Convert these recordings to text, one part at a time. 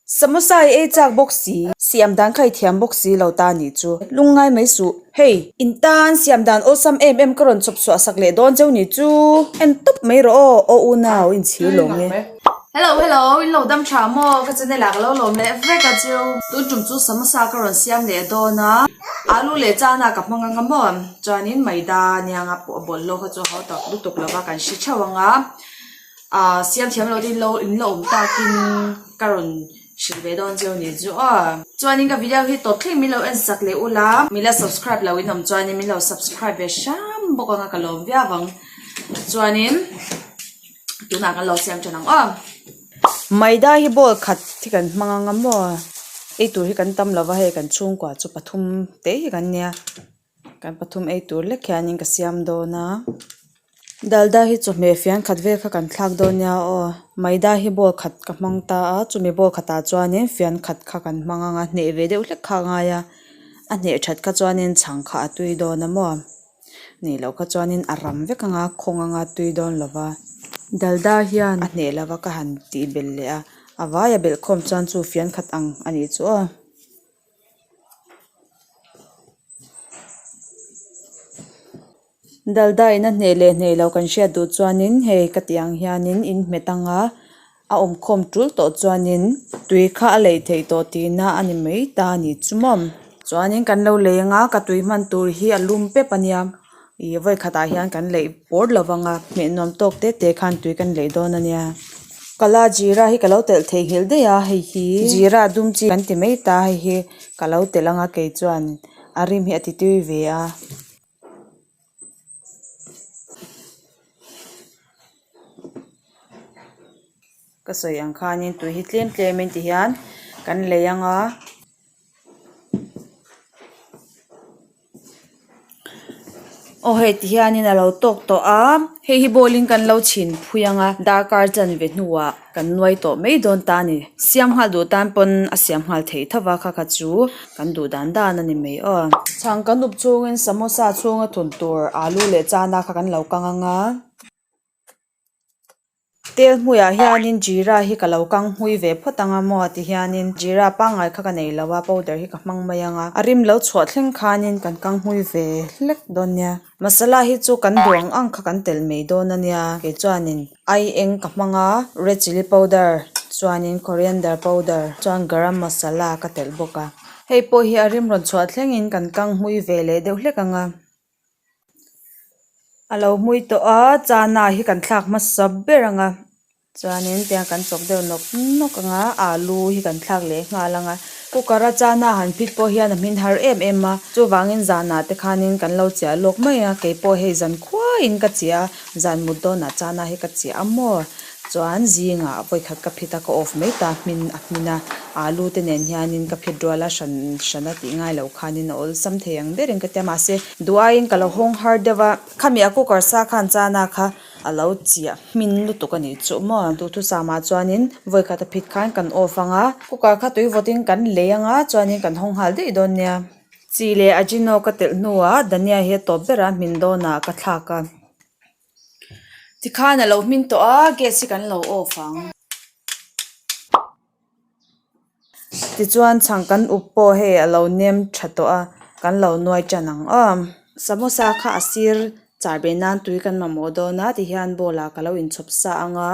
Samosa i ei chak bawk si, siam dan kha i thiam bawk si lo ta ni chu. Lung ngai mai suh. Hei! In tan siam dan awsam em em ka rawn chawp suah sak leh dawn cheu ni chu. En tawp mai rawh aw, aw unau in chhir lawm e. Hello, hello, in lo dam tha maw? Ka chun nila ka lo lawm leh vek a chu. Tun tum chu samosa ka rawn siam leh dawn a, alu leh chana ka hmang anga maw? Chuan in maida nianga pawh a bawlhhlawk a chu a hautak lutuk lova kan hre theuh anga. Ahh siam thiam lo tein lo in la awm takin ka rawn hrilh ve dawn zeuh ni chu a. Chuanin ka video hi tawp thleng min lo en sak leh u la. Min la subscribe lo in awm chuanin min lo subscribe ve hram bawk anga ka lawm viau ang. Chuanin tunah kan lo siam than ang aw. Maida hi ball khat hi kan hmang anga maw? Eitur hi kan tam lova hei kan chhungkua chu pathum te hi kan nia. Kan pathum ei tur lek hianin ka siam dawn a, Dalda hi chawhmeh fian khat vel kha kan thlak dawn nia aw, Maida hi ball khat ka hmang ta a, chumi ball khatah chuanin fian khat kha kan hmang anga hneh ve deuh hlek kha a ngai a, a hneh that kha chuanin chhang kha a tui dawn a maw, ni loh kha chuanin a ram vek anga khawng anga tui dawn lo va, Dalda hian a hneh lova ka han tih bel leh a, a vai a belh khawm chuan chu fian khat ang a nih chu aw. Dalda in a hneh leh hneh lo kan hriat duh chuanin hei ka tih ang hianin in hme tang a a awmkhawm tul tawh chuanin tui kha a lei thei tawh tihna a ni mai ta a ni chu mawm chuanin kan lo leng a ka tui hman tur hi a lum pep a nia. ih vawi khatah hian kan laih bawr lo vang a hmeh nuam tawk te te khan tui kan laih dawn a nia kala zira hi ka lo telh thei nghilh daih a hei hi zira dum chi kan ti mai ta hei hi ka lo telh ang a kei chuan a rim hi a ti tui ve a. Ka sawi ang khanin tui hi tlem tlem in ti hian kan lei ang a. aw heti hianin a lo tawk tawh a hei hi bawlin kan lo chhin phui anga darkar chan ve hnuah kan nuai tawh mai dawn ta a ni siam nghal duh tan pawn a siam nghal thei tho va kha kha chu kan duh dan dan a ni mai aw chhang ka nup chungin samosa chhunga thun tur alu leh chana kha kan lo kang anga. tel hmui ah hian in Jira hi ka lo kang hmui ve phawt ang a maw ti hian in Jira pangngai kha ka nei lo a powder hi ka hmang mai ang a a rim lo chhuah thleng khan in kan kang hmui ve hlek dawn nia masala hi chu kan duang ang kha kan tel mai dawn a nia kei chuan in ai eng ka hmang a red chilli powder chuan in coriander powder chuan garam masala ka telh bawk a hei pawh hi a rim rawn chhuah thleng in kan kang hmui ve leh deuh hlek ang a. a lo hmui tawh a chana hi kan thlak hmasa ber ang a chuanin tiang kan chawp deuh nawk nawk ang a alu hi kan thlak leh nghal ang a cooker a chana han fit pawh hian a hmin har em em a chuvangin zanah te khanin kan lo cheh a lawk mai a keipawh hei zan khuain ka cheh a zan mut dawnah chana hi ka cheh a maw. Chuan zinga a vawikhat ka phit a, ka off mai ta hmin a hmin a, aa lu te nen hianin ka phit rual a, hran hran a tih ngai lo khanin a awlsam thei ang berin ka tia mahse, duhaiin ka lo hawng har deuh a, khami a cooker sa khan chana kha a lo chiah hmin lutuk a nih chuh maw, duh thu sa mah chuanin vawikhat a phit khan kan off ang a, cooker kha tui vawtin kan lei ang a, chuanin kan hawng nghal daih dawn nia. Chi leh Ajino ka telh hnuah Dania hi a tawp berah hmin dawnah ka thlak a. Tikhan alo hmin tawh a gas hi kan lo off ang tichuan chhang kan uk pawh hei alo nem tha tawh a kan lo nuai tan ang awm samosa kha a sir char be nan tui kan mamawh dawn a tihian bowl ah ka lo in chhawp sa ang a.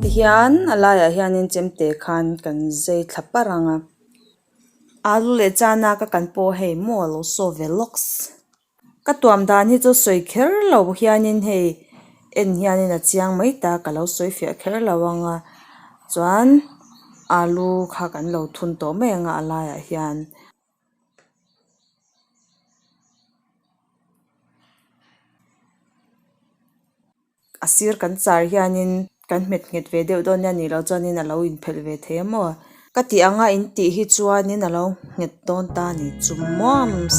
Tihian a laiah hianin chemte khan kan zai thla par ang a alu leh chana ka kan pawh hei maw a lo saw ve lawk si ka tuam dan hi chu sawi kher lo hianin hei en hianin a chiang mai ta ka lo sawi fiah kher lo ang a chuan alu kha kan lo thun tawh mai ang a a laiah hian. a sir kan char hianin kan hmet nghet ve deuh dawn nia nilo chuanin alo in phelh ve thei a maw ka ti ang a intih hi chuanin alo nghet dawn ta a nih chu muams.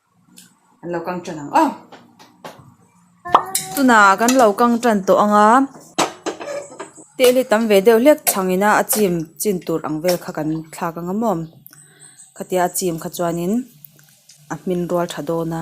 an lo kang tan ang a tuna kan lo kang tan tawh ang a teli tam ve deuh hlek chhang in a a chim chin tur ang vel kha kan thlak ang a mawm khatia a chim kha chuan in a hmin rual tha dawn a.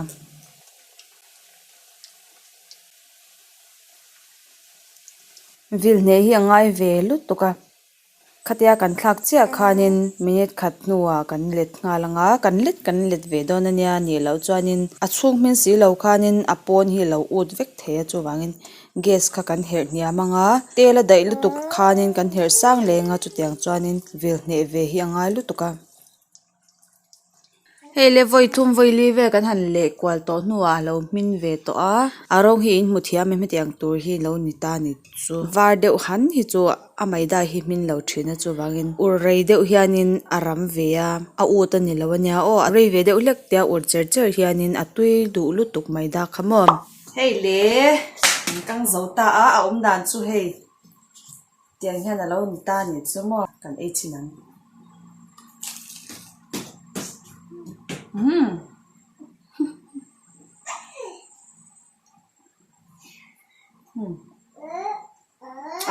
Khatia kan thlak chiah khanin minute khat hnuah kan let nghal anga, kan let kan in let ve dawn ania nih loh chuanin a chhung hming si lo khanin a pawn hi lo ut vek thei a chuvangin gas kha kan herh hniam anga tel a daih lutuk khanin kan herh sang leng a chutiang chuanin vil hneh ve hi a ngai lutuk a. hei lavawi thum vawi li vel kan han leh kual tawh hnu ah lo hming ve tawh a a rawng hi in hmu thiam em hetiang tur hi lo ni ta ni chu var deuh han hi chu a maida hi hming lo thin a chuvangin ur rei deuh hianin a ram ve a a ût a ni lo a nia aw a rei ve deuh hlek te a ur cher cher hianin a tui duh lutuk maida kha maw hei leh an kang zo ta a a awm dan chu hei. Tiang hian a lo ni ta ni chu maw? Kan ei thin ang. Umm! Umm!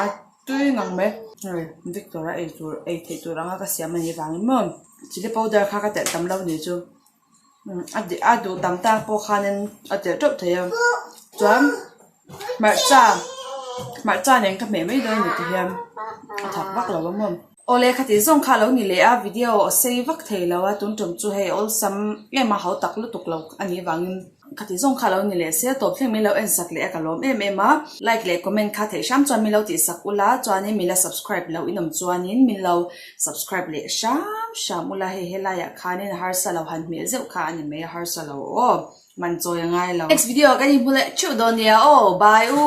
A tui ngang mai. Hei, Victor-a ei tur, ei theih tur anga ka siam a nih vangin maw? Chilli powder kha ka telh tam lo ni chu, a duh tam tak pawh khanin a tel teuh thei a chuan hmarcha hmarcha nen ka hmeh mai dawn a ni tih hian a thak vak lo a maw aw lehkha tih zawng kha a lo ni leh a video a sei vak thei lo a tun tum chu hei awlsam em a hautak lutuk lo a nih vangin. Ka ti zawng kha lo ni leh se, tawp thleng min lo en sak leh a ka lawm em em a, like leh comment kha theih hram chuan min lo tih sak ula chuanin min la subscribe lo inawm chuanin min lo subscribe leh hram hram ula hei helai ah khanin a harsa lo han hmel zeuh kha a ni mai a harsa lo aw man chawi a ngai lo. Next video ah kan inhmu leh theuh dawn nia aw bye u.